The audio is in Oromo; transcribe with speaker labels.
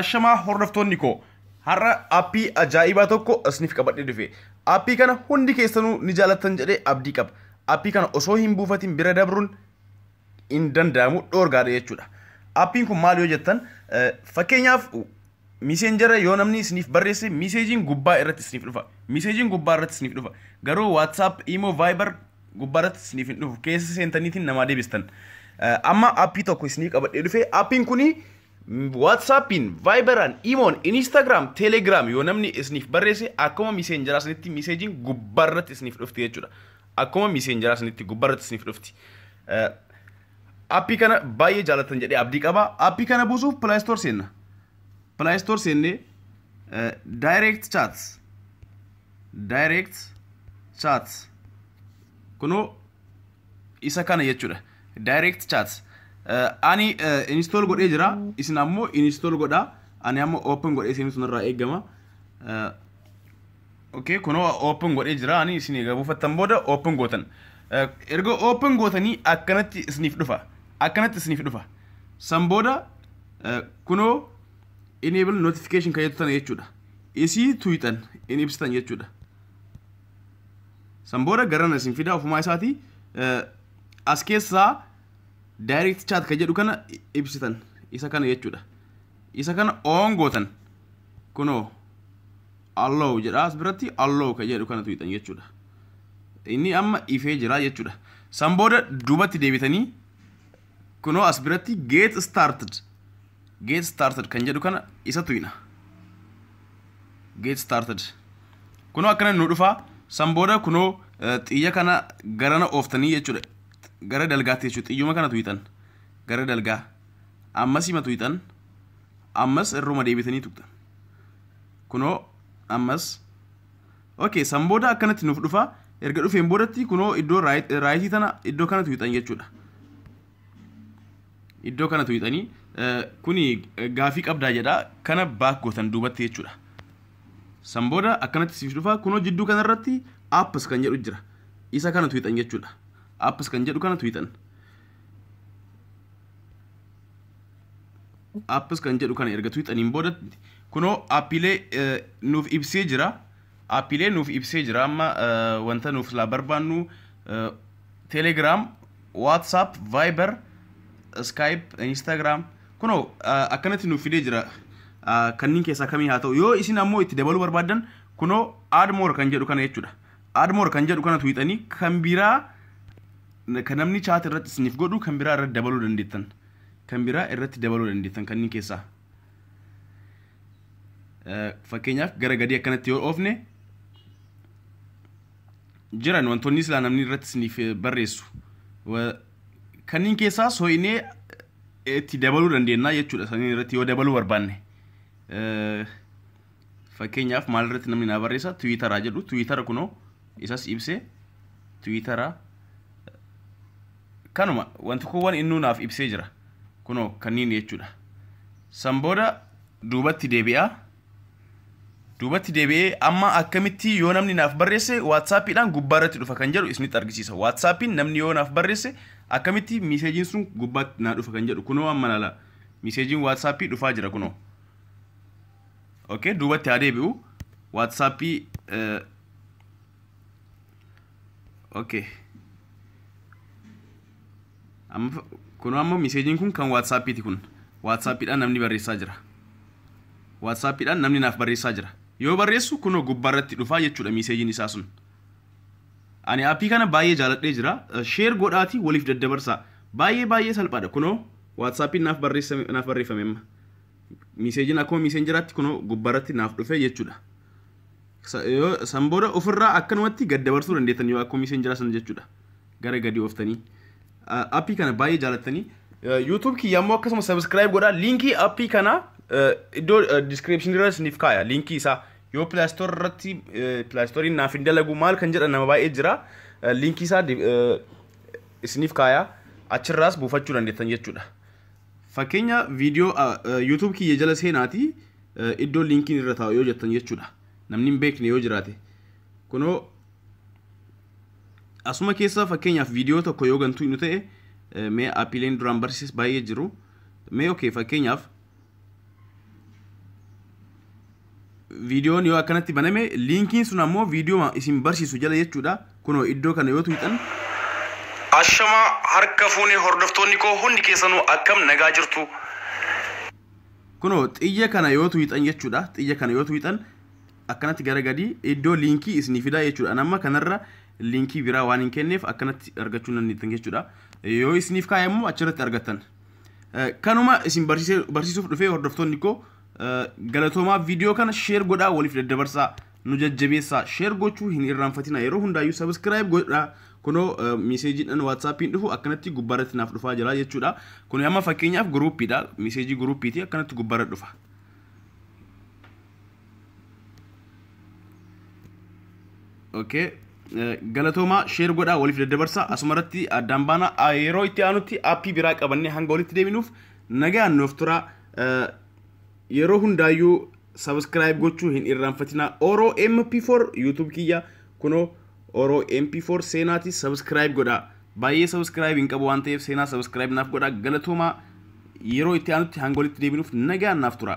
Speaker 1: Ashamaa hordoftoonni koo har'a appii ajaa'ibaa tokko isiniif qabadhee dhufe. Appii kana hundi keessanuu ni jaalattan jedhee abdii qaba. Appii kana osoo hin buufatin bira dabruun hin danda'amu dhoorgaadha jechuudha. Appiin kun maal yoo jettan fakkeenyaaf miiseenjara yoo namni isiniif barreesse miiseejiin gubbaa irratti isiniif dhufa. Miiseejiin gubbaa irratti isiniif dhufa. Garuu WhatsApp, Imo, Viber gubbaarratti isiniif hin dhufu keessa seentaniitiin namaa deebistan amma appii tokko isinii qabadhee dhufe appiin kuni waatsaappiin vaayibaraan imoon inistaagiraam teelegiraam yoo namni isiniif barreesse akkuma miseenjaraa isinitti miseejiin gubbaarratti isiniif dhufti jechuudha akkuma miseenjaraa isinitti gubbaarratti isiniif dhufti appii kana baay'ee jaalatan jedhee abdii qaba appii kana buusuuf pilaayistoor seenna pilaayistoor seennee daayireekt chaats direct chat kunoo isa kana jechuudha direct chat Eh, ani eh, install godhee jira isin ammoo install godha ani amma open godhee isin sunirraa eegama Eh, okay kunoo open godhee jira ani isin egaa buufattan booda open gootan Eh, erga open gootanii akkanatti isiniif dhufa akkanatti isiniif dhufa san booda eh, kunoo enable notification kan jettu tana jechuudha isii tuyxan in ibsitan jechuudha san booda garana isin fidaa ofumaa isaatii eh, as keessaa direct chat kan jedhu kana i- ibsitan isa kana jechuudha isa kana on gootan kunoo allow jedha as biratti allow kan jedhu kana tuyxan jechuudha inni amma ifee jira jechuudha san booda duubatti deebitanii kunoo as biratti get started get started kan jedhu kana isa tuyna get started kunoo akkana nu dhufaa san booda kunoo eh, xiyya kana garana ooftanii jechuudha gara dalgaatti jechuudha xiyyuma kana tuyxan gara dalgaa ammas hima tuyxan ammas irruma deebitanii tuqxan kunoo ammas Okay, san booda akkanatti nuuf dhufa. Erga dhufeen boodatti kunoo iddoo raayit- raayitii tana iddoo kanatu hixan jechuudha. Iddoo kanatu hixanii eh, kuni eh, gaafii qabdaa jedha kana baak gootan duubatti jechuudha. San booda akkanatti siif dhufa kunoo jidduu kanarratti apps kan jedhu jira. Isa kanatu hixan jechuudha. Apps kan jedhu kanatu hixan. apps kan jedhu kana erga tuuxaniin booda kunoo appiilee eh, nuuf ibsee jira appiilee nuuf ibsee jira amma eh, wanta nuuf silaa barbaannu eh, telegram whatsapp viber skype instagram kunoo eh, akkanatti nuuf fidee jira Eh, kanneen keessaa kamii haa ta'u yoo isin ammoo itti dabaluu barbaaddan kunoo add more kan jedhu kana jechuudha add more kan jedhu kana tuuxanii kan biraa Kan namni chat irratti isiniif godhu kan biraa irratti dabaluu dandeettan. Kan biraa irratti dabaluu dandeettan kanneen keessaa. Eh, Fakkeenyaaf gara gadii akkanatti yoo oofne jiran wantoonni silaa namni irratti isiniif eh, barreessu. Wa- Kanneen keessaa soo'inee eh, itti dabaluu dandeenya jechuudha. Saniin irratti yoo dabaluu barbaanne. Eh, Fakkeenyaaf maalirratti namni naa barreessa tiwiitaraa jedhu tiwiitara kunoo isas ibsee tiwiitaraa kanuma wanti kuuwwan innuu naaf ibsee jira kunoo kanniin jechuudha. San booda duubatti deebi'aa duubatti deebi'ee amma akkamitti yoo namni naaf barreesse waatsaappiidhaan gubbaa irratti dhufa kan jedhu isinitti argisiisa. Waatsaappiin namni yoo naaf barreesse akkamitti miiseejiin sun gubbaatti naa dhufa kan jedhu kunoo amma laala miiseejiin waatsaappii dhufaa jira kunoo. okay duubatti haa deebi'u waatsaappii eh, okay amma fa- kun amma miseejiin kun kan waatsaappiiti kun waatsaappiidhaan namni barreessaa jira waatsaappiidhaan namni naaf barreessaa jira yoo barreessu kunoo gubbaarratti dhufaa jechuudha miseejiin isaa sun ani aappii kana baay'ee jaaladhee jira sheer godhaati waliif daddabarsaa baay'ee baay'ee salphaadha kunoo waatsaappiin naaf barreessame naaf barreeffame amma Miiseejiin akkuma miiseenjeraatti kunoo gubbaarratti naaf dhufe jechuudha. San booda ofirraa akkanumatti gad dabarsuu dandeettan yoo akkuma miiseenjeraa san jechuudha. Gara gadi ooftanii. Appii kana baay'ee jaalattanii. YouTube kiyya immoo akkasuma subscribe godhaa. Liinkii appii kana iddoo description irra isiniif kaaya. Liinkii isaa yoo Play Store irratti Play Store naaf hin dalagu maal kan jedhan nama baay'ee jira. Liinkii isaa isiniif kaaya. Achirraas buufachuu dandeettan jechuudha. Fakkeenya viidiyoo YouTube kiyya jala seenaati iddoo linkiin irra taa'u yoo jettan jechuudha. Namni hin beekne yoo jiraate. Kunoo asuma keessa fakkeenyaaf viidiyoo tokko yoo gantuu nu ta'e mee appiileen duraan barsiises baay'ee jiru. Mee okay fakkeenyaaf viidiyoon yoo akkanatti baname liinkiin sun ammoo viidiyoo isin barsiisu jala jechuudha kunoo iddoo kana yoo tuqxan
Speaker 2: Ashamaa harka fuune hordoftoonni koo hundi keessanuu akkam nagaa jirtu.
Speaker 1: kunoo xiyya kana yoo tuqxan jechuudha xiyya kana yoo tuqxan akkanatti gara gadi iddoo liinkii isinii fidaa jechuudha Ani amma kanarra liinkii biraa waan hin kenneef akkanatti argachuu hin dandeettan jechuudha yoo isiniif kaa'e immoo achirratti argattan Eh, kanuma isin barsiisee- barsiisuuf dhufee hordoftoonni koo Galatoomaa viidiyoo kana sheer godhaa waliif daddabarsaa nu jajjabeessaa sheer gochuu hin irraanfatina yeroo hundaayyuu sabiskiraayib godhaa kunoo miiseejiidhaan waatsaappiin dhufu akkanatti gubbaarratti naaf dhufaa jira jechuudha kun amma fakkeenyaaf guruuppiidha miiseejii guruuppiiti akkanatti gubbaarra dhufa. Okay. Galatoomaa sheer godhaa waliif daddabarsaa asumarratti addaan baana yeroo itti aanutti aappii biraa qabannee hanga walitti deebinuuf nagaan nuuf turaa. yeroo hundaayyuu subscribe gochuu hin irraanfatinaa oro mp4 youtube kiyya kuno oro mp4 seenaati subscribe godha baay'ee subscribe hin qabu waan ta'eef seenaa subscribe naaf godha galatoomaa yeroo itti aanutti hanga walitti deebinuuf nagaan naaf tura.